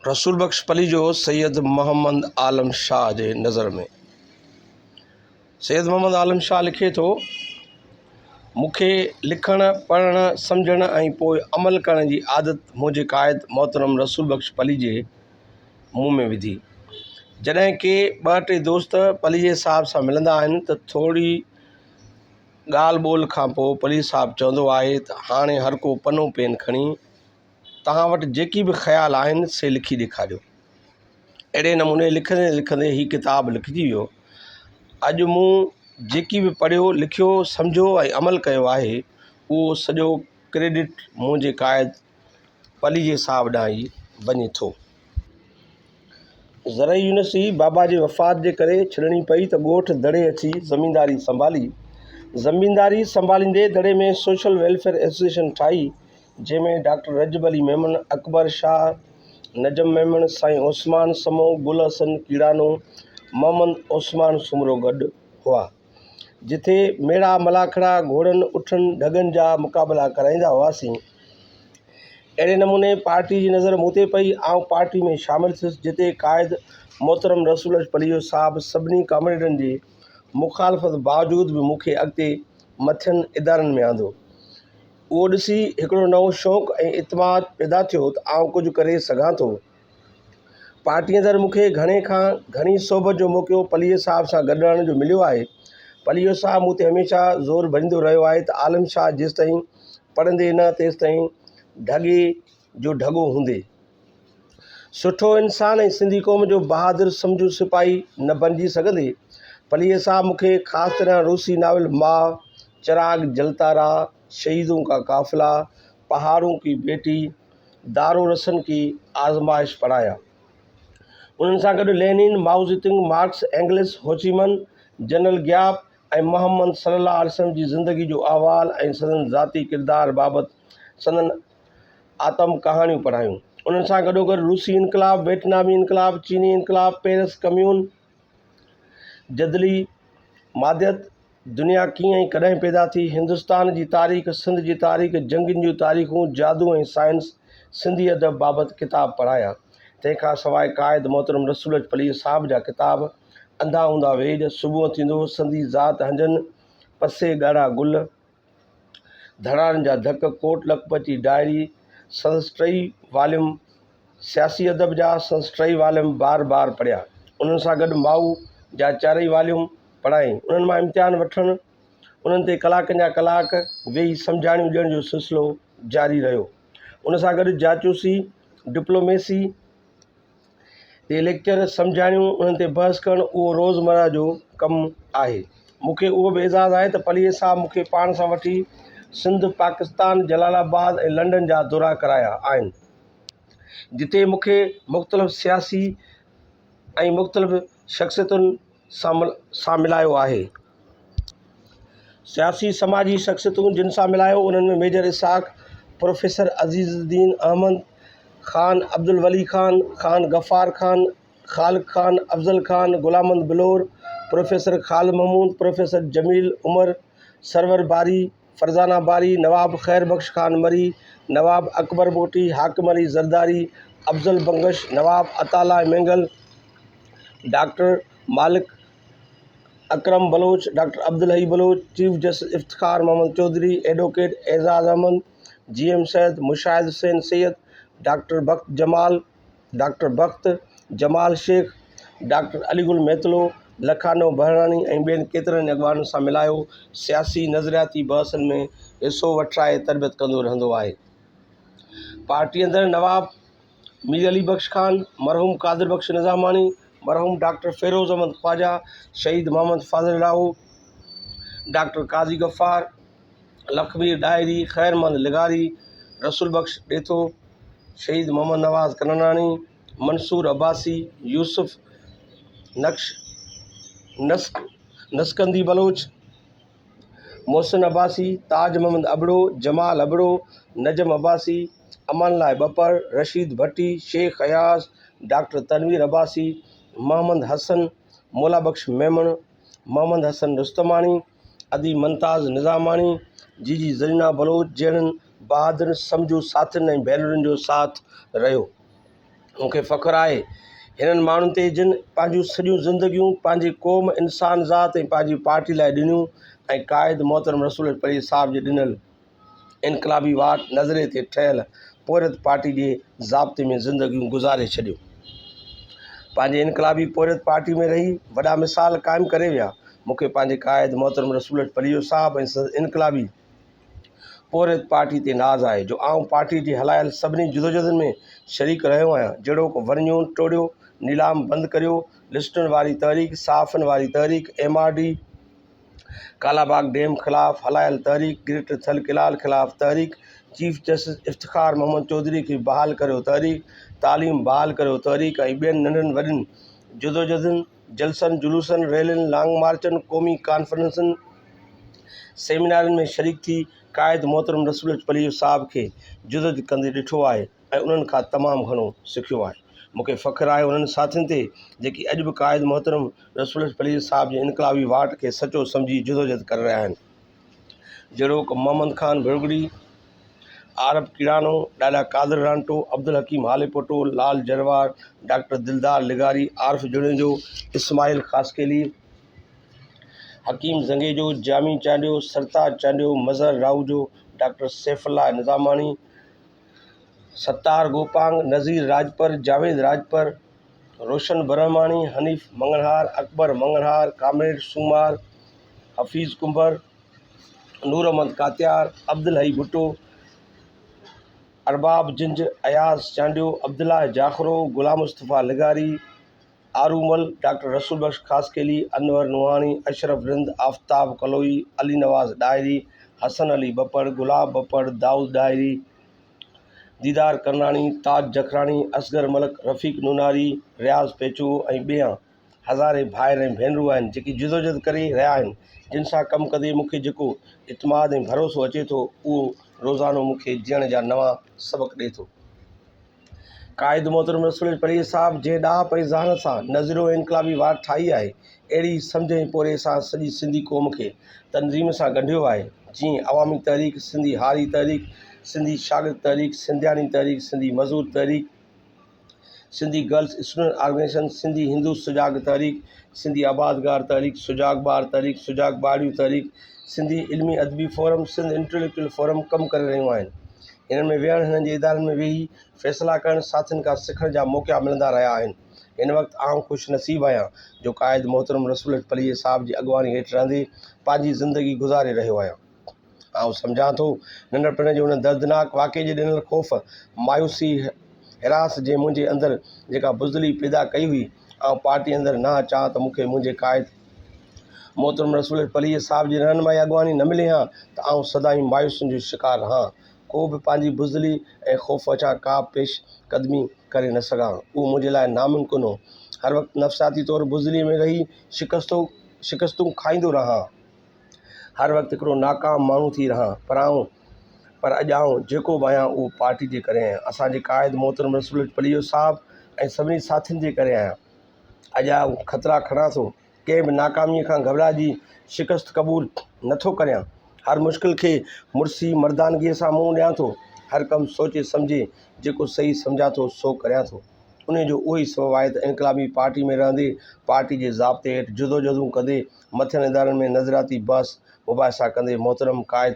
رسول بخش پليجو سيد محمد عالم شاهه جي نظر ۾ سيد محمد عالم شاهه لکي ٿو مون کي لکڻ پڙهڻ سمجهڻ ۽ پوء عمل ڪرڻ جي عادت منهنجي قائد محترم رسول بخش پليجي مون ۾ وڌي جڏهن ڪي ٻه ٽي دوست پليجي صاحب سان ملندا آهن ته ٿوري ڳالهه ٻولهه کانپوء پليجي صاحب چوندو آهي ته هاڻي هرڪو پنو پين کڻي توهان وٽ جيڪي به خيال آهن سي لکي ڏيکاريو اهڙي نموني لکندي لکندي هي ڪتاب لکجي ويو اڄ مون جيڪي به پڙهيو لکيو سمجهيو ۽ عمل ڪيو آهي اهو سڄو ڪريڊٽ منهنجي قائد پليجي صاحب ڏانهن ئي وڃي ٿو زرعي يونيورسٽي بابا جي وفات جي ڪري ڇڏڻي پئي ته ڳوٺ دڙي اچي زمينداري سنڀالي. زمينداري سنڀاليندي دڙي ۾ سوشل ويلفيئر ايسوسيئيشن ٺاهي، جنهن ۾ ڊاڪٽر رجب علي ميمڻ، اڪبر شاهه، نجم ميمڻ، سائين عثمان سمون، گل حسن ڪيڙانو، محمد عثمان سومرو گڏ هئا. جتي ميڙا ملاکڙا گهوڙن اٺن ڍڳن جا مقابلا ڪرائيندا هئاسين اهڙي نموني پارٽي جي نظر مون تي پئي آئون پارٽي ۾ شامل ٿيس جتي قائد محترم رسول اچ پليجو صاحب سڀني ڪامريڊن جي مخالفت باوجود به مون کي اڳتي مٿين ادارن ۾ آندو اهو ڏسي هڪڙو نئون شوق ۽ اعتماد پيدا ٿيو ته آئون ڪجهه ڪري سگهان ٿو پارٽي اندر مون کي گهڻي کان گهڻي صحبت جو موقعو پليجي صاحب سان گڏ رهڻ جو مليو آهي. پليجو صاحب مون تي هميشه زور ڀريندو رهيو آهي ته عالم شاهه جيستائين پڙهندي نه تيستائين ڍڳي جو ڍڳو هوندي. سٺو انسان ۽ سنڌي قوم جو بهادر سمجهو سپاهي نه بڻجي سگهندي. پليجي صاحب مون کي خاص طرح روسي ناول ماء، چراغ جلتا رها، شهيدون ڪا قافلا، پهاڙون ڪي بيٽي، دار الرسن ڪي آزمائش پڙهايا. انهن سان گڏ Lenin, Mao Zedong, Marx, Engels, Ho Chi Minh, general Giap ۽ Muhammad صلي الله عليه وسلم جي زندگي جو احوال ۽ سندن ذاتي ڪردار بابت سندن آتم ڪهاڻيون پڙهايون. انهن سان گڏوگڏ روسي انقلاب، ويٽنامي انقلاب، چيني انقلاب، پيرس ڪميون، جدلي، ماديت، دنيا ڪيئن ۽ ڪڏهن پيدا ٿي، هندستان جي تاريخ، سنڌ جي تاريخ، جنگين جون تاريخون، جادو ۽ سائنس، سنڌي ادب بابت ڪتاب پڙهايا. تنهن کان سواء قائد محترم رسول اچ پليء صاحب جا ڪتاب، انڌا هوندا ويڄ، صبح ٿيندو، سندي ذات هنجن، پسي ڳاڙها گل، ڌڻائن جا ڌڪ، ڪوٽ لکپتي ڊائري، سندس ٽئي واليوم سياسي ادب جا سندس ٽئي واليوم بار بار پڙهيا. انهن سان گڏ ماء جا چارئي واليوم پڙهائين. انهن مان امتحان وٺڻ، انهن تي ڪلاڪن جا ڪلاڪ ويهي سمجهاڻيون ڏيڻ جو سلسلو جاري رهيو. ان سان گڏ جاچوسي، ڊپلوميسي، تي ليڪچر سمجهاڻيون انهن تي بحث ڪرڻ اهو روزمره جو ڪم آهي مون کي اهو به اعزاز آهي ته پليجي صاحب مون کي پاڻ سان وٺي سنڌ پاڪستان جلال آباد ۽ لنڊن جا دورا ڪرايا آهن جتي مون کي مختلف سياسي ۽ مختلف شخصيتن سان سان ملايو آهي. سياسي سماجي شخصيتون جن سان ملايو انهن ۾ ميجر اسحاق، پروفيسر عزيز الدين احمد، خان عبدالولي خان، خان غفار خان، خالق خان، افضل خان، غلامند بلور، پروفيسر خال محمود، پروفيسر جميل عمر، سرور باري، فرزانه باري، نواب خير بخش خان مري، Nawab Akbar Bugti, Hakim Ali Zardari, Afzal Bangash, Nawab Ataullah Mengal, doctor Malik Akram Baloch, doctor Abdul Hai Baloch, chief justice Iftikhar Muhammad Chaudhry, advocate اعزاز Ahmed, G M Syed, Mushahid Hussain Syed, doctor Bakht Jamal, doctor Bakht, Jamal Sheikh, doctor Ali Gul Metlo, Lakhano Behrani ۽ ٻين ڪيترن ئي اڳواڻن سان ملايو سياسي نظرياتي بحثن ۾ حصو وٺرائي تربيت ڪندو رهندو آهي. پارٽي اندر نواب مير علي بخش خان، مرحوم قادر بخش نظاماڻي، مرحوم ڊاڪٽر فيروز احمد خواجه، شهيد محمد فاضل لاهو، ڊاڪٽر قاضي غفار، لکمير ڏاهري، خيرمند لغاري، رسول بخش ڏيٿو، شهيد محمد نواز ڪنوراڻي، منصور عباسي، يوسف نقش نسڪ نسڪندي بلوچ، محسن عباسي، تاج محمد ابڙو، جمال ابڙو، نجم عباسي، امان الله ٻپر، رشيد ڀٽي، شيخ اياز، ڊاڪٽر تنوير عباسي، محمد حسن، مولا بخش ميمڻ، محمد حسن رستماڻي، اديب ممتاز نظاماڻي جي جي زرينه بلوچ جهڙن بهادر سمجهو ساٿين ۽ ڀينرن جو ساٿ رهيو مون کي فخر آهي هنن ماڻهن تي جن پنهنجون سڄيون زندگيون پنهنجي قوم انسان ذات ۽ پنهنجي پارٽي لاء ڏنيون ۽ قائد محترم رسول الاپريء صاحب جي ڏنل انقلابي واٽ نظري تي ٺهيل پورهيت پارٽي جي ضابطي ۾ زندگيون گذاري ڇڏيون. پنهنجي انقلابي پورهيت پارٽي ۾ رهي وڏا مثال قائم ڪري ويا. مون کي پنهنجي قائد محترم رسول اچ پليجو صاحب ۽ سندس انقلابي پورهيت پارٽي تي ناز آهي جو آئون پارٽي جي هلايل سڀني جدوجهدن ۾ شريڪ رهيو آهيان جهڙوڪ، ورنيون ٽوڙيو، نيلام بند ڪريو، لسٽن واري تحريڪ، صحافين واري تحريڪ، M R D, Kalabagh dam خلاف هلايل تحريڪ گريٽر ٿل ڪينال خلاف تحريڪ چيف جسٽس افتخار محمد چوڌري کي بحال ڪريو تحريڪ تعليم بحال ڪريو تحريڪ ۽ ٻين ننڍن وڏن جدوجھدن جلسن جلوسن ريلين لانگ مارچن قومي ڪانفرنسن سيمينارن ۾ شريڪ ٿي قائد محترم رسول اچپليو صاحب کي جدوجھد ڪندي ڏٺو آهي ۽ انهن کان تمام گهڻو سکيو آهي. مون کي فخر آهي انهن ساٿين تي جيڪي اڄ به قائد محترم رسول الحق پليجي صاحب جي انقلابي واٽ کي سچو سمجهي جدوجهد ڪري رهيا آهن. جهڙوڪ محمد خان ڀرڳڙي، عارب ڪيڙانو، ڏاڏا قادر رانٽو، عبدالحڪيم هاليپوٽو، لال جروار، ڊاڪٽر دلدار لغاري، عارف جوڻيجو، اسماعيل خاصخيلي، حڪيم زنگيجو، جامي چانڊيو، سرتاج چانڊيو، مظهر راهوجو، ڊاڪٽر سيف الله نظاماڻي، ستار گوپانگ، نذير راڄپر، جاويد راڄپر، روشن برهماڻي، حنيف مڱڻهار، اڪبر مڱڻهار، ڪامريڊ سومار، حفيظ ڪنڀر، نور محمد ڪاتيار، عبدالحئي ڀٽو، ارباب جنج، اياز چانڊيو، عبدالله جاکرو، غلام مصطفيٰ لغاري، آرومل، ڊاڪٽر رسول بخش خاصخيلي، انور نوحاڻي، اشرف رند، آفتاب ڪلوئي، علي نواز ڏاهري، حسن علي ٻپڙ، گلاب ٻپڙ، دائود ڏاهري، ديدار ڪرناڻي، تاج جکراڻي، اصغر ملڪ، رفيق نوناري، رياض پيچوو ۽ ٻيا هزارين ڀائر ۽ ڀينرون آهن جيڪي جدوجهد ڪري رهيا آهن جن سان ڪم ڪندي مون کي جيڪو اعتماد ۽ ڀروسو اچي ٿو اهو روزانو مون کي جيئڻ جا نوان سبق ڏئي ٿو. قائد محترم رسول علي پرهيز صاحب جنهن ڏاهپ ۽ ذهانت سان نظريو ۽ انقلابي واٽ ٺاهي آهي، اهڙي سمجهه ۽ پورهئي سان سڄي سنڌي قوم کي تنظيم سان ڳنڍيو آهي، جيئن عوامي تحريڪ، سنڌي هاري تحريڪ، سنڌي شاگرد تحريڪ، سنڌياڻي تحريڪ، سنڌي مزور تحريڪ، Sindhi girls student organization, Sindhi Hindu سجاڳ تحريڪ، سنڌي آبادگار تحريڪ، سجاڳ ٻار تحريڪ، سجاڳ ٻارڙيون تحريڪ، سنڌي علمي ادبي فورم، سنڌ انٽيليڪچوئل فورم ڪم ڪري رهيون آهن. انهن ۾ ويهڻ، هنن جي ادارن ۾ ويهي فيصلا ڪرڻ، ساٿين کان سکڻ جا موقعا ملندا رهيا آهن. هن وقت آئون خوش نصيب آهيان جو قائد محترم رسول اچ پليجي صاحب جي اڳواڻي هيٺ رهندي پنهنجي زندگي گذاري رهيو آهيان. آئون سمجهان ٿو ننڍپڻ جي ان دردناڪ واقعي جي ڏنل خوف، مايوسي، هراس جنهن منهنجي اندر جيڪا بزدلي پيدا ڪئي هئي، آئون پارٽي اندر نه اچان ته مون کي منهنجي قائد، محترم رسول پليء صاحب جي رهنمائي اڳواڻي نه ملي هان ته آئون سدائين مايوسين جو شڪار رهان ڪو به پنهنجي بزدلي ۽ خوف وچان ڪا به پيش قدمي ڪري نه سگهان اهو منهنجي لاء ناممڪن هو هر وقت نفسياتي طور بزدلي ۾ رهي شڪستو شڪستون کائيندو رهان هر وقت هڪڙو ناڪام ماڻهو ٿي رهان پر آئون پر اڄ آئون جيڪو به آهيان اهو پارٽي جي ڪري آهيان اسان جي قائد محترم رسول پليء صاحب ۽ سڀني ساٿين جي ڪري آهيان اڄ آء خطرا کڻان ٿو، ڪنهن به ناڪاميء کان گهٻرائجي شڪست قبول نه ٿو ڪريان. هر مشڪل کي مڙسي مردانگيء سان منهن ڏيان ٿو. هر ڪم سوچي سمجهي جيڪو صحيح سمجهان ٿو سو ڪريان ٿو. انهيء جو اهو ئي سبب آهي ته انقلابي پارٽيء ۾ رهندي، پارٽيء جي ضابطي هيٺ جدوجهدون ڪندي، مٿين ادارن ۾ نظرياتي بحث مباحثا ڪندي محترم قائد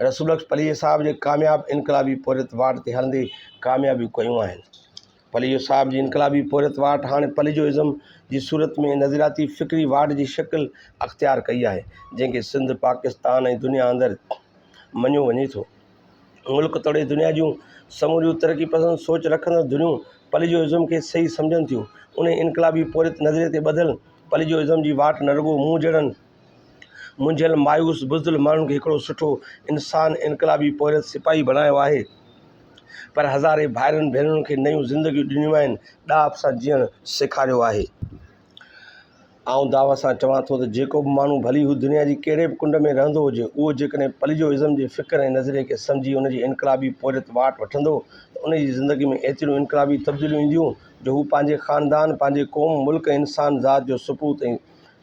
رسولبخش پليجي صاحب جي ڪامياب انقلابي پورهيت واٽ تي هلندي ڪاميابيون ڪيون آهن. پليجو صاحب جي انقلابي پورهيت واٽ هاڻي پليجو ازم جي صورت ۾ نظرياتي فڪري واٽ جي شڪل اختيار ڪئي آهي جنهن کي سنڌ پاڪستان ۽ دنيا اندر مڃيو وڃي ٿو ملڪ توڙي دنيا جون سموريون ترقي پسند سوچ رکندڙ دنيون پليجو ازم کي صحيح سمجهن ٿيون انهي انقلابي پورهيت نظريي تي ٻڌل پليجو ازم جي واٽ نه رڳو مون جهڙن منجهيل مايوس بزدل ماڻهن کي هڪڙو سٺو انسان انقلابي پورهيت سپاهي بڻايو آهي پر هزارين ڀائرن ڀينرن کي نيون زندگيون ڏنيون آهن ڏاهپ سان جيئڻ سيکاريو آهي آئون داء سان چوان ٿو ته جيڪو به ماڻهو ڀلي هو دنيا جي ڪهڙي به ڪنڊ ۾ رهندو هجي اهو جيڪڏهن پليجو ازم جي فڪر ۽ نظرئي کي سمجهي ان جي انقلابي پورهيت واٽ وٺندو ته ان جي زندگي ۾ ايتريون انقلابي تبديليون اينديون جو هو پنهنجي خاندان پنهنجي قوم ملڪ ۽ انسان ذات جو سپوت ۽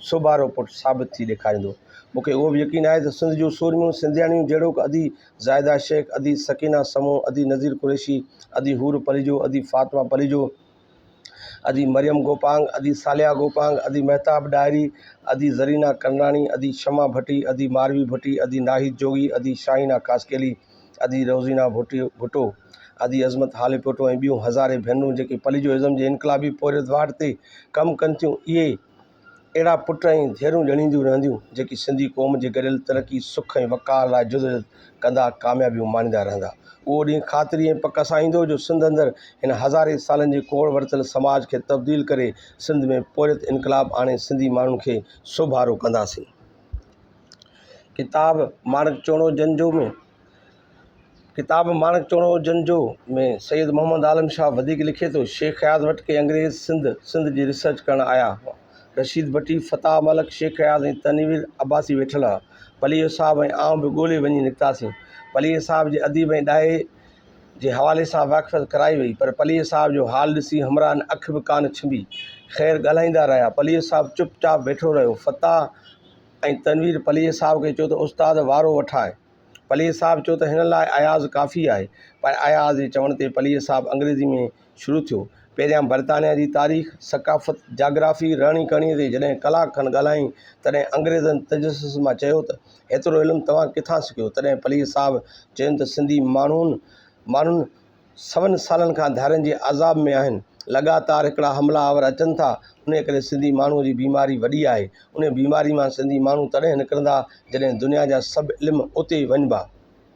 سوڀارو پٽ ثابت ٿي ڏيکاريندو. مون کي اهو به يقين آهي ته سنڌ جون سورميون سنڌياڻيون جهڙوڪ ادي زاهده شيخ، ادي سڪينه سمون، ادي نذير قريشي، ادي حور پليجو، ادي فاطمه پليجو، ادي مريم گوپانگ، ادي صالحه گوپانگ، ادي مهتاب ڏاهري، ادي زرينه ڪنراڻي، ادي شمع ڀٽي، ادي ماروي ڀٽي، ادي ناهيد جوڳي، ادي شاهينه خاصخيلي، ادي روزينا ڀٽو ڀٽو، ادي عظمت هاليپوٽو ۽ ٻيون هزارين ڀينرون جيڪي پليجوازم جي انقلابي پورهيت واٽ تي ڪم ڪن ٿيون، اهي اهڙا پٽ ۽ ڌيئرون ڄڻينديون رهنديون، جيڪي سنڌي قوم جي گڏيل ترقي، سک ۽ وقار لاء جدوجهد ڪندا، ڪاميابيون ماڻيندا رهندا. اهو ڏينهن خاطري ۽ پڪ سان ايندو جو سنڌ اندر هن هزارين سالن جي ڪوڙ ورتل سماج کي تبديل ڪري سنڌ ۾ پورهيت انقلاب آڻي سنڌي ماڻهن کي سوڀارو ڪنداسين. ڪتاب مارڪ چوڻو جنجو ۾ ڪتاب مارڪ چوڻو جنجو ۾ سيد محمد عالم شاهه وڌيڪ لکي ٿو شيخ اياز وٽ ڪي انگريز سنڌ سنڌ جي ريسرچ ڪرڻ آيا هئا رشيد ڀٽي فتاح ملڪ شيخ اياز ۽ تنوير عباسي ويٺل هئا پليجو صاحب ۽ آئون به ڳولي وڃي نڪتاسين پليجي صاحب جي اديب ۽ ڏاهي جي حوالي سان واقفيت ڪرائي وئي پر پليجي صاحب جو حال ڏسي همراهن اک به ڪانه ڇنڀي. خير ڳالهائيندا رهيا. پليجي صاحب چپ چاپ ويٺو رهيو. فتاح ۽ تنوير پليجي صاحب کي چيو ته استاد وارو وٺاء. پليجي صاحب چيو ته هن لاء اياز ڪافي آهي. پر اياز جي چوڻ تي پليجي صاحب انگريزي ۾ شروع ٿيو. پهريان برطانيا جي تاريخ، ثقافت، جاگرافي، رهڻي ڪهڻي تي جڏهن ڪلاڪ کن ڳالهايائين، تڏهن انگريزن تجسس مان چيو ته، هيترو علم توهان ڪٿان سکيو؟ تڏهن پليجي صاحب چيم ته سنڌي ماڻهن ماڻهن سون سالن کان ڌارين جي عذاب ۾ آهن. لڳاتار هڪڙا حملا آور اچن ٿا. انهيء ڪري سنڌي ماڻهوء جي بيماري وڏي آهي. انهيء بيماري مان سنڌي ماڻهو تڏهن نڪرندا، جڏهن دنيا جا سڀ علم اتي وڃبا.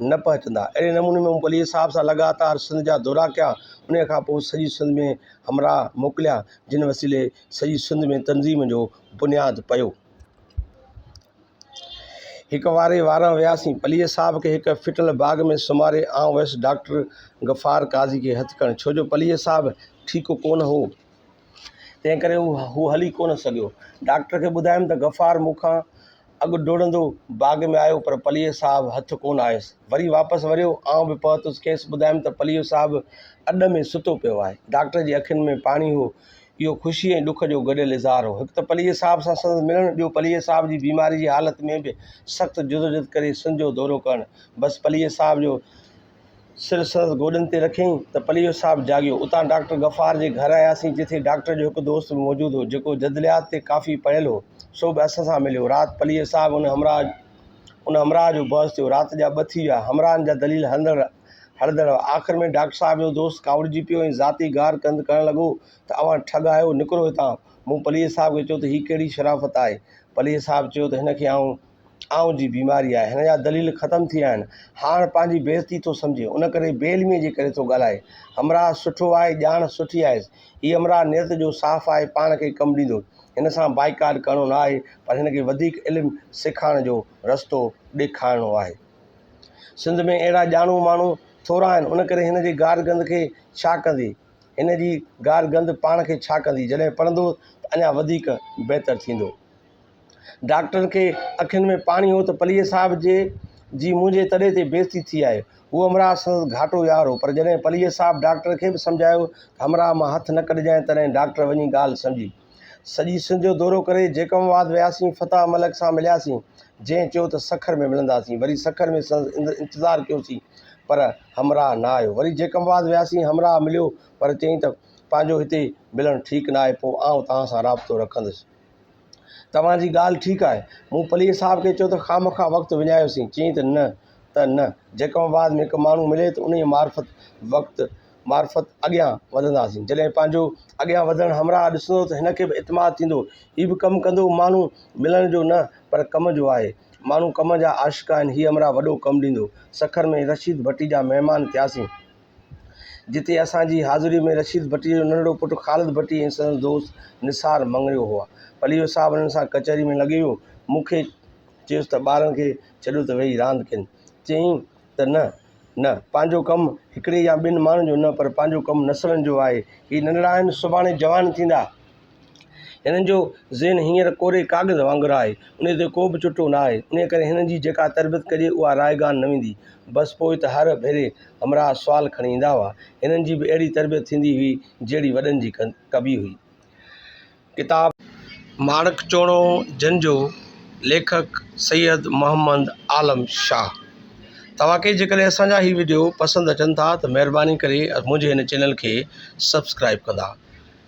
نه پهچندا. اهڙي نموني ۾ مون پليجي صاحب سان لڳاتار سنڌ جا دورا ڪيا. انهيء کان پوء سڄي سنڌ ۾ همراهه موڪليا، جن وسيلي سڄي سنڌ ۾ تنظيم جو بنياد پيو. هڪ واري واران وياسين. پليجي صاحب کي هڪ ڦٽل باغ ۾ سمهاري آئون ويس ڊاڪٽر غفار قاضي کي هٿ ڪرڻ، ڇو جو پليجي صاحب ٺيڪ ڪونه هو، تنهنڪري هو هلي ڪونه سگهيو. ڊاڪٽر کي ٻڌايم ته غفار مون کان اڳ ڊوڙندو باغ ۾ آيو پر پليجو صاحب هٿ ڪونه آيس. وري واپس وريو. آئون به پهتس. کيس ٻڌايم ته پليجو صاحب اڏ ۾ ستو پيو آهي. ڊاڪٽر جي اکين ۾ پاڻي هو. اهو خوشي ۽ ڏک جو گڏيل اظهار هو. هڪ ته پليجي صاحب سان سندس ملڻ، ٻيو پليجي صاحب جي بيماري جي حالت ۾ به سخت جدوجھد ڪري سنڌ جو دورو ڪرڻ. بس پليجي صاحب جو. سر سندس گوڏن تي رکيائين ته پليجو صاحب جاڳيو. اتان ڊاڪٽر غفار جي گهر آياسين، جتي ڊاڪٽر جو هڪ دوست به موجود هو، جيڪو جدليات تي ڪافي پڙهيل هو، سو به اسان سان مليو. رات پليجو صاحب ۽ ان همراهه جو بحث ٿيو. رات جا ٻه ٿي ويا. همراهن جا دليل هڻندڙ هڻندڙ هئا. آخر ۾ ڊاڪٽر صاحب جو دوست ڪاوڙجي پيو ۽ ذاتي گار ڪندي ڪرڻ لڳو ته اوهان ٺڳ آهيو، نڪرو هتان. مون پليجي صاحب کي چيو ته هي ڪهڙي شرافت آهي؟ پليجي صاحب چيو ته هن کي آئون آئون جي بيماري آهي هن جا دليل ختم ٿي ويا آهن هاڻ پنهنجي بي عزتي ٿو سمجهي ان ڪري بي علميء جي ڪري ٿو ڳالهائي همراهه سٺو آهي ڄاڻ سٺي آهيس هي همراهه نيت جو صاف آهي پاڻ کي ڪم ڏيندو هن سان بائيڪاٽ ڪرڻو نه آهي پر هن کي وڌيڪ علم سيکارڻ جو رستو ڏيکارڻو آهي سنڌ ۾ اهڙا ڄاڻو ماڻهو ٿورا آهن ان ڪري هن جي گار گند کي ڇا ڪندي هن جي گار گند پاڻ کي ڇا ڪندي جڏهن پڙهندو ته اڃا وڌيڪ بهتر ٿيندو ڊاڪٽرن کي اکين ۾ پاڻي هو ته پليجي صاحب جي جي منهنجي تڏي تي بيعزتي ٿي آهي. هو همراهه سندس گهاٽو يار هو پر جڏهن پليجي صاحب ڊاڪٽر کي به سمجهايو ته همراهه مان هٿ نه ڪڍجانء تڏهن ڊاڪٽر وڃي ڳالهه سمجهي. سڄي سنڌ جو دورو ڪري جيڪم آباد وياسين فتاح ملڪ سان ملياسين جنهن چيو ته سکر ۾ ملنداسين وري سکر ۾ سندس اندر انتظار ڪيوسين پر همراهه نه آيو وري جيڪم آباد وياسين همراهه مليو پر چيائين ته پنهنجو هتي ملڻ ٺيڪ نه آهي پوء آئون توهان سان رابطو رکندس. توهان جي ڳالهه ٺيڪ آهي. مون پليجي صاحب کي چيو ته خامخواه وقت وڃايوسين. چيائين ته نه ته نه. جيڪب آباد ۾ هڪ ماڻهو ملي ته انهيء معرفت وقت معرفت اڳيان وڌنداسين. جڏهن پنهنجو اڳيان وڌڻ همراهه ڏسندو ته هن کي به اعتماد ٿيندو. هي به ڪم ڪندو. ماڻهو ملڻ جو نه پر ڪم جو آهي. ماڻهو ڪم جا عاشق آهن. هي همراهه وڏو ڪم ڏيندو. سکر ۾ رشيد ڀٽي جا مهمان ٿياسين. جتي اسان جي حاضريء ۾ رشيد ڀٽي جو ننڍڙو پٽ خالد ڀٽي ۽ سندس دوست نثار مڱريو هئا. پليجو صاحب انهن سان ڪچهري ۾ لڳي ويو. مون کي چيس ته ٻارن کي ڇڏيو ته ويهي راند ڪين. چيائين ته نه، نه، پنهنجو ڪم هڪڙي يا ٻن ماڻهن جو نه پر پنهنجو ڪم نسلن جو آهي. هي ننڍڙا آهن، سڀاڻي جوان ٿيندا. هنن جو ذهن هينئر ڪوري ڪاغذ وانگر آهي، انهيء تي ڪو به چٽو نه آهي، انهيء ڪري هنن جي جيڪا تربيت ڪجي، اها رائيگان نه ويندي. بس پوء ته هر ڀيري همراهه سوال کڻي ايندا هئا. هنن جي به اهڙي تربيت ٿيندي هئي، جهڙي وڏن جي ڪبي هئي. ڪتاب. ماڻڪ چوڻو جنھن جو ليکڪ سيد محمد عالم شاھ. توهان کي جيڪڏهن اسان جا هي وڊيو پسند اچن ٿا ته مهرباني ڪري منهنجي هن چينل کي سبسڪرائب ڪندا.